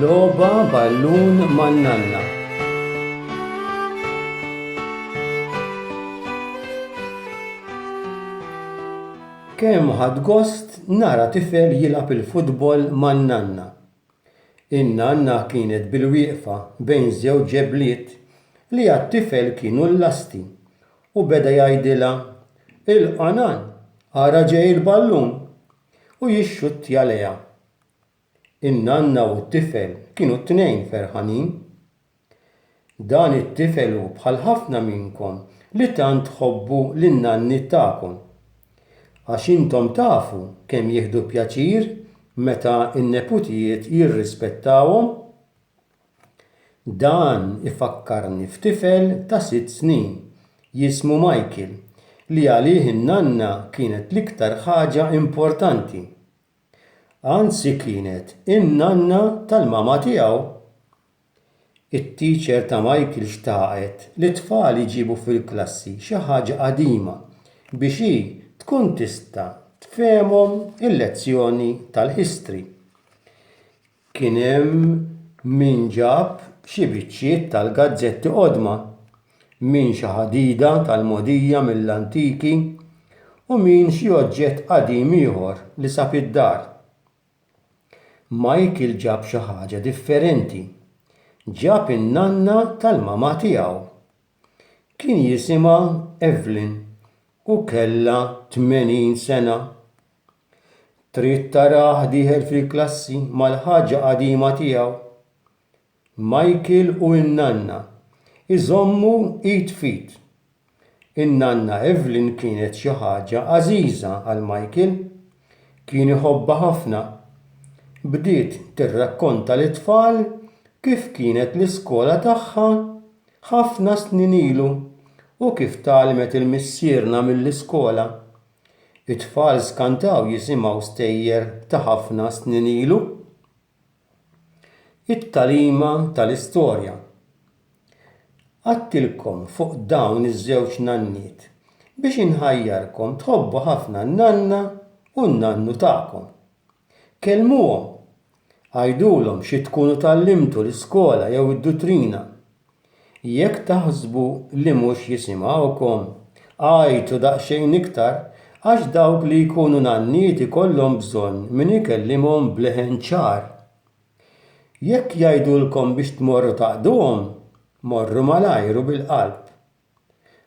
Loba ballun man-nanna. Kemm ħad gost nara tifel jilgħab il-futbol man-nanna. In-nanna kienet bilwieqfa bejn żewġ ġebliet li għat-tifel kienu l-lasti u beda jgħidilha, Ilqa' nan, ara ġej il-ballun! u jixxuttja lejha. In-nanna u t-tifel kienu t-tnejn ferħanin. Dan it-tifel hu bħal ħafna minnkom li tant tħobbu lin-nanniet tagħkom. Għax intom tafu kemm jieħdu pjaċir meta n-neputijiet jirrispettawhom? Dan ifakkarni f'tifel ta' sitt snin jismu Michael li għalih in-nanna kienet l-iktar ħaġa importanti. Anzi kienet in-nanna tal-mama tiegħu. It-teacher ta' Michael xtaqet li t-tfal iġibu fil-klassi xi ħaġa qadima biex hi tkun tista' tfehemhom il-lezzjoni tal-history. Kien hemm min ġab xi biċċiet tal-gazzetti qodma, min xi ħadida tal-mogħdija mill-antiki u min xi oġġett qadim ieħor li sab id-dar. Michael ġab xi ħaġa differenti. Ġab in-nanna tal-mamà tiegħu. Kien jisimha Evelyn u kellha tmenin sena. Trid tarah dieħel fil-klassi mal-ħaġa qadima tiegħu? Michael u n-nanna jżommu id f'id. In-nanna Evelyn kienet xi ħaġa għażiża għal Michael. Kien iħobbha ħafna. Bdiet tirrakkonta lit-tfal kif kienet l-iskola tagħha ħafna snin ilu u kif tgħallmet il-missierna mill-iskola. It-tfal skantaw jisimgħu stejjer ta' ħafna snin ilu. It-tagħlima tal-istorja. Qgħadtilkom fuq dawn iż-żewġ nanniet biex inħajjarkom tħobbu ħafna n-nanna u n-nannu tagħkom. Kellmuhom, għidulhom xi tkunu tgħallimtu l-iskola jew id-dutrina. Jekk taħsbu li mhux jisimgħukom, għajtu daqsxejn iktar għax dawk li jkunu nanniet ikollhom bżonn min ikellimhom b'leħen ċar. Jekk jgħidulkom biex tmorru taqduhom, morru malajr u bil-qalb.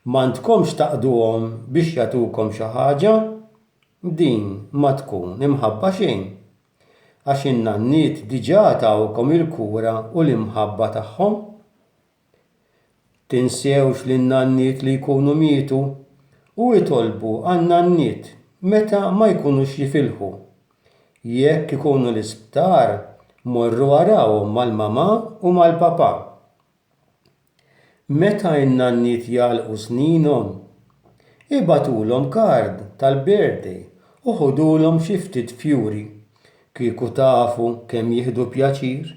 M'għandkomx taqduhom biex jagħtukom xi ħaġa, din ma tkun imħabba xejn. għax in-nanniet diġà tawkom il-kura u l-imħabba tagħhom. Tinsewx lin-nanniet li jkunu mietu u itolbu għan-nanniet meta ma jkunux jifilħu. Jekk ikunu l-isptar, morru arawhom mal-mamà u mal-papà. Meta n-nanniet jagħlqu sninhom, ibagħtulhom kard tal-birthday u ħudulhom xi ftit fjuri. Kieku tafu kemm jieħdu pjaċir!